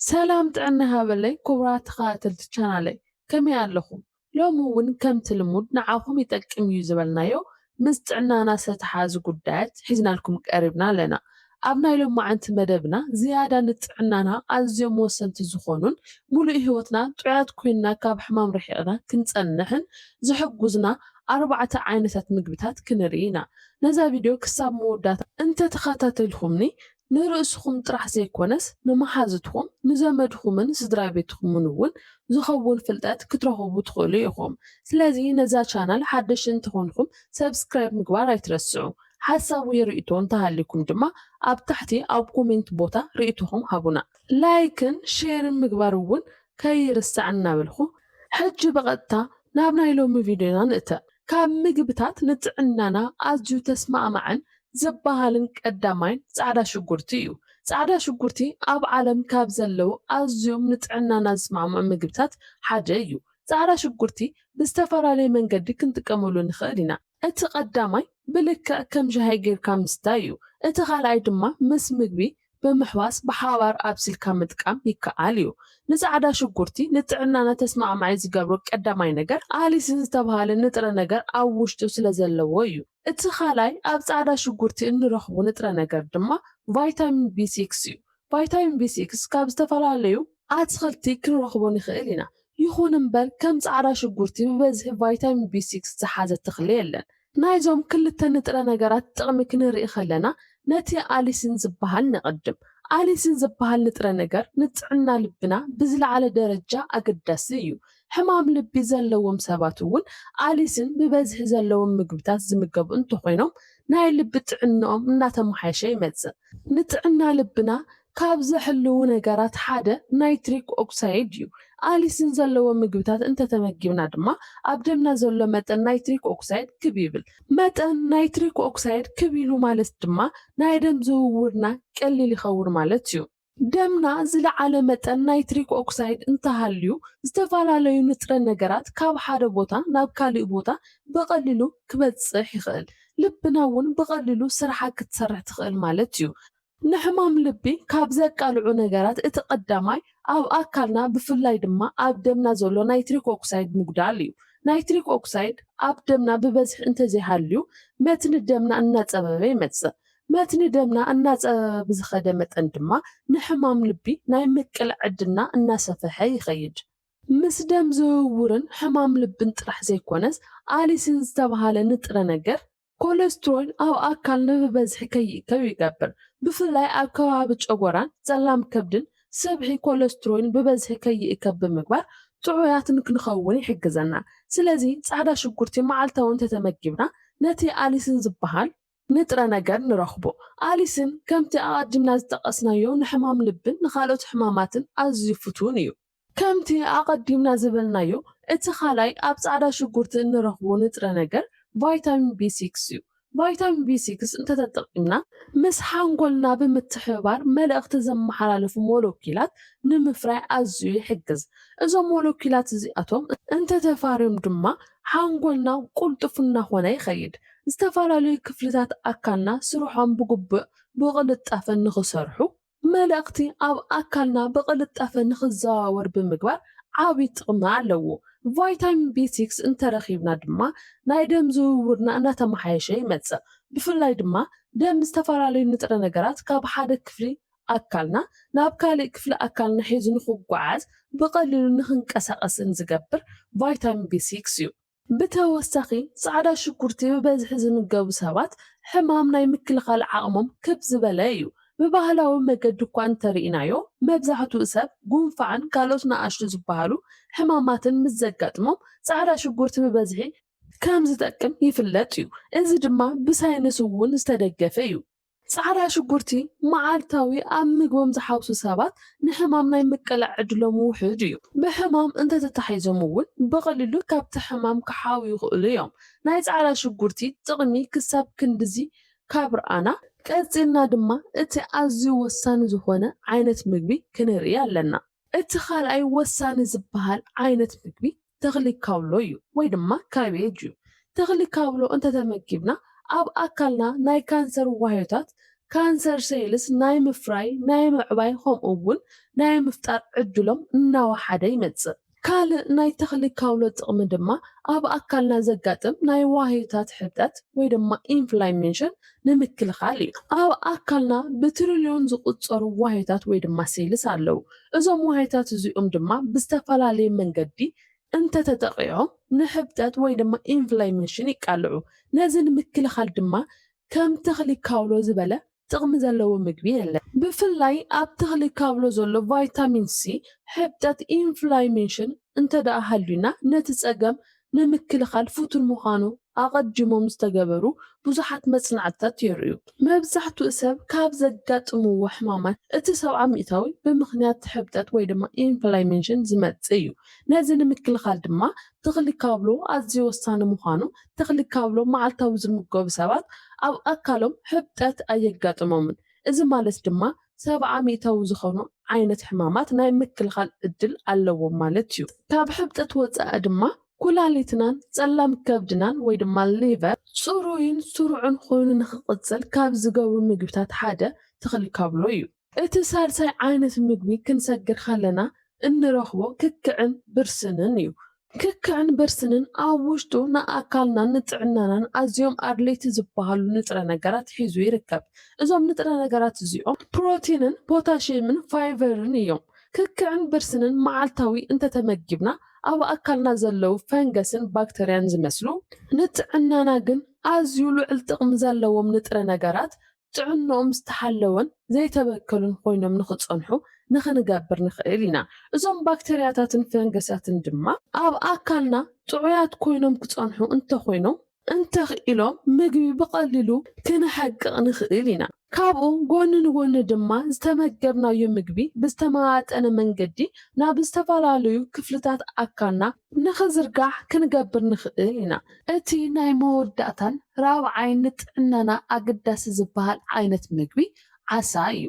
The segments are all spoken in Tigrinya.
ሰላም ጥዕና ይሃበለይ ኩቡራት ተኸታተልቲ ቻናለይ ከመይ ኣለኹም ሎሚ ውን ከምቲ ልሙድ ንዓኹም ይጠቅም እዩ ዝበልናዮ ምስ ጥዕናና ዝተተሓዙ ጉዳያት ሒዝናልኩም ቀሪብና ኣለና ኣብ ናይ ሎማዕንቲ መደብና ዝያዳ ንጥዕናና ኣዝዮም ወሰንቲ ዝኾኑን ሙሉእ ሂወትና ጥዑያት ኮይንና ካብ ሕማም ርሒቕና ክንጸንሕን ዝሕጉዝና ኣርባዕተ ዓይነታት ምግብታት ክንርኢ ኢና ነዛ ቪድዮ ክሳብ መወዳእታ እንተተኸታተልኹምኒ ንርእስኹም ጥራሕ ዘይኮነስ ንመሓዙትኩም፣ ንዘመድኹምን ስድራቤትኹምን እውን ዝኸውን ፍልጠት ክትረኽቡ ትኽእሉ ኢኹም። ስለዚ ነዛ ቻናል ሓደሽቲ እንተኾንኩም Subscribe ምግባር ኣይትረስዑ። ሓሳብ ወይ ርእይቶ እንተሃልዩኩም ድማ ኣብ ታሕቲ ኣብ ኮሜንት ቦታ ርእይቶኹም ሃቡና። ላይክን ሼርን ምግባር እውን ከይርሳዕ እናበልኩ ሕጂ ብቐጥታ ናብ ናይ ሎሚ ቪድዮና ንእተ። ካብ ምግብታት ንጥዕናና ኣዝዩ ተስማዕማዕን ዝበሃልን ቀዳማይን ጻዕዳ ሽጉርቲ እዩ። ጻዕዳ ሽጉርቲ ኣብ ዓለም ካብ ዘለዉ ኣዝዮም ንጥዕናና ዝስማዕምዑ ምግብታት ሓደ እዩ። ጻዕዳ ሽጉርቲ ብዝተፈላለየ መንገዲ ክንጥቀመሉ ንኽእል ኢና። እቲ ቀዳማይ ብልክዕ ከም ሻሂ ጌርካ ምስታይ እዩ። እቲ ካልኣይ ድማ ምስ ምግቢ ብምሕዋስ ብሓባር ኣብሲልካ ምጥቃም ይከኣል እዩ። ንጻዕዳ ሽጉርቲ ንጥዕናና ተስማዕማዒ ዝገብሮ ቀዳማይ ነገር ኣሊሲን ዝተብሃለ ንጥረ ነገር ኣብ ውሽጡ ስለዘለዎ እዩ። እቲ ካልኣይ ኣብ ጻዕዳ ሽጉርቲ እንረኽቦ ንጥረ ነገር ድማ ቫይታሚን ቢ ሲክስ እዩ። ቫይታሚን ቢ ሲክስ ካብ ዝተፈላለዩ ኣትኽልቲ ክንረኽቦ ንኽእል ኢና። ይኹን እምበር ከም ጻዕዳ ሽጉርቲ ብበዝሒ ቫይታሚን ቢ ሲክስ ዝሓዘ ተኽሊ የለን። ናይዞም ክልተ ንጥረ ነገራት ጥቕሚ ክንርኢ ከለና ነቲ ኣሊሲን ዝበሃል ነቐድም። ኣሊሲን ዝበሃል ንጥረ ነገር ንጥዕና ልብና ብዝለዓለ ደረጃ ኣገዳሲ እዩ። ሕማም ልቢ ዘለዎም ሰባት እውን ኣሊስን ብበዝሒ ዘለዎም ምግብታት ዝምገቡ እንተኾይኖም ናይ ልቢ ጥዕንኦም እናተመሓየሸ ይመፅእ። ንጥዕና ልብና ካብ ዘሕልዉ ነገራት ሓደ ናይትሪክ ኦክሳይድ እዩ። ኣሊስን ዘለዎ ምግብታት እንተተመጊብና ድማ ኣብ ደምና ዘሎ መጠን ናይትሪክ ኦክሳይድ ክብ ይብል። መጠን ናይትሪክ ኦክሳይድ ክብ ኢሉ ማለት ድማ ናይ ደም ዝውውርና ቀሊል ይኸውን ማለት እዩ። ደምና ዝለዓለ መጠን ናይትሪክ ኦክሳይድ እንተሃልዩ ዝተፈላለዩ ንጥረ ነገራት ካብ ሓደ ቦታ ናብ ካሊእ ቦታ ብቐሊሉ ክበፅሕ ይኽእል። ልብና እውን ብቐሊሉ ስርሓ ክትሰርሕ ትኽእል ማለት እዩ። ንሕማም ልቢ ካብ ዘቃልዑ ነገራት እቲ ቀዳማይ ኣብ ኣካልና ብፍላይ ድማ ኣብ ደምና ዘሎ ናይትሪክ ኦክሳይድ ምጉዳል እዩ። ናይትሪክ ኦክሳይድ ኣብ ደምና ብበዝሒ እንተዘይሃልዩ መትኒ ደምና እናፀበበ ይመፅእ። መትኒ ደምና እናጸበበ ብዝኸደ መጠን ድማ ንሕማም ልቢ ናይ ምቅላዕ ዕድልና እናሰፈሐ ይኸይድ። ምስ ደም ዝውውርን ሕማም ልብን ጥራሕ ዘይኮነስ ኣሊሲን ዝተብሃለ ንጥረ ነገር ኮለስትሮል ኣብ ኣካልና ብበዝሒ ከይእከብ ይገብር። ብፍላይ ኣብ ከባቢ ጨጎራን ጸላም ከብድን ስብሒ ኮለስትሮል ብበዝሒ ከይእከብ ብምግባር ጥዑያት ንክንኸውን ይሕግዘና። ስለዚ ጻዕዳ ሽጉርቲ መዓልታዊ እንተተመጊብና ነቲ ኣሊሲን ዝበሃል ንጥረ ነገር ንረኽቦ። ኣሊስን ከምቲ ኣቐዲምና ዝጠቐስናዮ ንሕማም ልብን ንኻልኦት ሕማማትን ኣዝዩ ፍቱን እዩ። ከምቲ ኣቐዲምና ዝበልናዮ እቲ ካልኣይ ኣብ ጻዕዳ ሽጉርቲ እንረኽቦ ንጥረ ነገር ቫይታሚን ቢ ሲክስ እዩ። ቫይታሚን ቢ ሲክስ እንተተጠቒምና፣ ምስ ሓንጎልና ብምትሕብባር መልእኽቲ ዘመሓላልፉ ሞለኪላት ንምፍራይ ኣዝዩ ይሕግዝ። እዞም ሞለኪላት እዚኣቶም እንተተፋርዮም ድማ ሓንጎልና ቁልጡፍ እናኾነ ይኸይድ። ዝተፈላለዩ ክፍልታት ኣካልና ስርሖም ብግቡእ ብቕልጣፈ ንኽሰርሑ፣ መልእኽቲ ኣብ ኣካልና ብቕልጣፈ ንኽዘዋወር ብምግባር ዓቢ ጥቕሚ ኣለዎ። ቫይታሚን ቢ ሲክስ እንተረኺብና ድማ ናይ ደም ዝውውርና እናተመሓየሸ ይመጽእ። ብፍላይ ድማ ደም ዝተፈላለዩ ንጥረ ነገራት ካብ ሓደ ክፍሊ ኣካልና ናብ ካሊእ ክፍሊ ኣካልና ሒዙ ንኽጓዓዝ ብቐሊሉ ንኽንቀሳቐስን ዝገብር ቫይታሚን ቢ ሲክስ እዩ። ብተወሳኺ ፃዕዳ ሽጉርቲ ብበዝሒ ዝምገቡ ሰባት ሕማም ናይ ምክልኻል ዓቕሞም ክብ ዝበለ እዩ። ብባህላዊ መገዲ እኳ እንተርኢናዮ መብዛሕትኡ ሰብ ጉንፋዕን ካልኦት ንኣሽቱ ዝበሃሉ ሕማማትን ምስ ዘጋጥሞም ፃዕዳ ሽጉርቲ ብበዝሒ ከም ዝጠቅም ይፍለጥ እዩ። እዚ ድማ ብሳይንስ እውን ዝተደገፈ እዩ። ጻዕዳ ሽጉርቲ መዓልታዊ ኣብ ምግቦም ዝሓውሱ ሰባት ንሕማም ናይ ምቅላዕ ዕድሎም ውሑድ እዩ። ብሕማም እንተተታሒዞም እውን ብቐሊሉ ካብቲ ሕማም ክሓውዩ ይኽእሉ እዮም። ናይ ጻዕዳ ሽጉርቲ ጥቕሚ ክሳብ ክንድዚ ካብ ረኣና፣ ቀጺልና ድማ እቲ ኣዝዩ ወሳኒ ዝኾነ ዓይነት ምግቢ ክንርኢ ኣለና። እቲ ካልኣይ ወሳኒ ዝበሃል ዓይነት ምግቢ ተኽሊ ካውሎ እዩ ወይ ድማ ካቤጅ እዩ። ተኽሊ ካውሎ እንተተመጊብና ኣብ ኣካልና ናይ ካንሰር ዋህዮታት፣ ካንሰር ሴልስ፣ ናይ ምፍራይ፣ ናይ ምዕባይ ከምኡ እውን ናይ ምፍጣር ዕድሎም እናወሓደ ይመፅእ። ካልእ ናይ ተኽሊ ካውሎ ጥቕሚ ድማ ኣብ ኣካልና ዘጋጥም ናይ ዋህዮታት ሕብጠት ወይ ድማ ኢንፍላሜሽን ንምክልኻል እዩ። ኣብ ኣካልና ብትሪልዮን ዝቑጸሩ ዋህዮታት ወይ ድማ ሴልስ ኣለዉ። እዞም ዋህዮታት እዚኦም ድማ ብዝተፈላለየ መንገዲ እንተተጠቒዖም ንሕብጠት ወይ ድማ ኢንፍላሜሽን ይቃልዑ። ነዚ ንምክልኻል ድማ ከም ተኽሊ ካውሎ ዝበለ ጥቕሚ ዘለዎ ምግቢ የለን። ብፍላይ ኣብ ተኽሊ ካብሎ ዘሎ ቫይታሚን ሲ ሕብጠት፣ ኢንፍላሜሽን፣ እንተድኣ ሃልዩና ነቲ ጸገም ንምክልኻል ፍቱን ምዃኑ ኣቐዲሞም ዝተገበሩ ብዙሓት መጽናዕትታት የርእዩ። መብዛሕትኡ ሰብ ካብ ዘጋጥምዎ ሕማማት እቲ ሰብዓ ሚእታዊ ብምኽንያት ሕብጠት ወይ ድማ ኢንፍላሜሽን ዝመጽእ እዩ። ነዚ ንምክልኻል ድማ ተኽሊ ካብሎ ኣዝዩ ወሳኒ ምዃኑ፣ ተኽሊ ካብሎ መዓልታዊ ዝምገቡ ሰባት ኣብ ኣካሎም ሕብጠት ኣየጋጥሞምን። እዚ ማለት ድማ ሰብዓ ሚታዊ ዝኾኑ ዓይነት ሕማማት ናይ ምክልኻል ዕድል ኣለዎም ማለት እዩ። ካብ ሕብጠት ወጻኢ ድማ ኩላሊትናን ጸላም ከብድናን ወይ ድማ ሊቨር ጽሩይን ስሩዕን ኮይኑ ንኽቕጽል ካብ ዝገብሩ ምግብታት ሓደ ተኽሊ ካብሎ እዩ። እቲ ሳልሳይ ዓይነት ምግቢ ክንሰግር ከለና እንረኽቦ ክክዕን ብርስንን እዩ። ክክዕን ብርስንን ኣብ ውሽጡ ንኣካልናን ንጥዕናናን ኣዝዮም ኣድለይቲ ዝበሃሉ ንጥረ ነገራት ሒዙ ይርከብ። እዞም ንጥረ ነገራት እዚኦም ፕሮቲንን ፖታሽየምን ፋይቨርን እዮም። ክክዕን ብርስንን መዓልታዊ እንተተመጊብና ኣብ ኣካልና ዘለዉ ፈንገስን ባክተርያን ዝመስሉ፣ ንጥዕናና ግን ኣዝዩ ልዑል ጥቕሚ ዘለዎም ንጥረ ነገራት ጥዕንኦም ዝተሓለወን ዘይተበከሉን ኮይኖም ንኽጸንሑ ንኽንገብር ንኽእል ኢና። እዞም ባክተርያታትን ፈንገሳትን ድማ። ኣብ ኣካልና ጥዑያት ኮይኖም ክጸንሑ እንተኾይኖም። እንተኽኢሎም ምግቢ ብቐሊሉ ክንሕቅቕ ንኽእል ኢና። ካብኡ ጎኒ ንጎኒ ድማ ዝተመገብናዮ ምግቢ ብዝተመጣጠነ መንገዲ ናብ ዝተፈላለዩ ክፍልታት ኣካልና። ንኽዝርጋሕ ክንገብር ንኽእል ኢና። እቲ ናይ መወዳእታን ራብዓይን ንጥዕናና ኣገዳሲ ዝበሃል ዓይነት ምግቢ ዓሳ እዩ።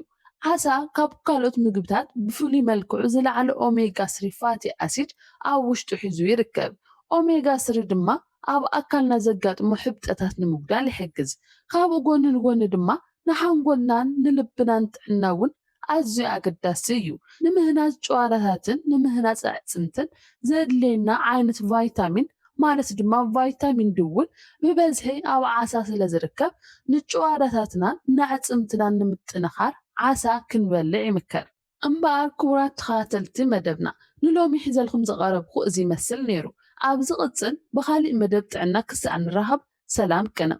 ዓሳ ካብ ካልኦት ምግብታት ብፍሉይ መልክዑ ዝለዓለ ኦሜጋ ስሪ ፋቲ ኣሲድ ኣብ ውሽጡ ሒዙ ይርከብ። ኦሜጋ ስሪ ድማ ኣብ ኣካልና ዘጋጥሙ ሕብጠታት ንምጉዳል ይሕግዝ። ካብኡ ጎኒ ንጎኒ ድማ ንሓንጎልናን ንልብናን ጥዕና እውን ኣዝዩ ኣገዳሲ እዩ። ንምህናጽ ጭዋዳታትን ንምህናጽ ኣዕጽምትን ዘድልየና ዓይነት ቫይታሚን ማለት ድማ ቫይታሚን ዲ እውን ብበዝሒ ኣብ ዓሳ ስለዝርከብ ንጭዋዳታትናን ንኣዕጽምትናን ንምጥንኻር ዓሳ ክንበልዕ ይምከር። እምበኣር ክቡራት ተኸታተልቲ መደብና ንሎሚ ሒዘልኩም ዝቐረብኩ እዚ ይመስል ነይሩ። ኣብ ዝቕጽል ብኻሊእ መደብ ጥዕና ክሳዕ ንራኸብ ሰላም ቅንእ።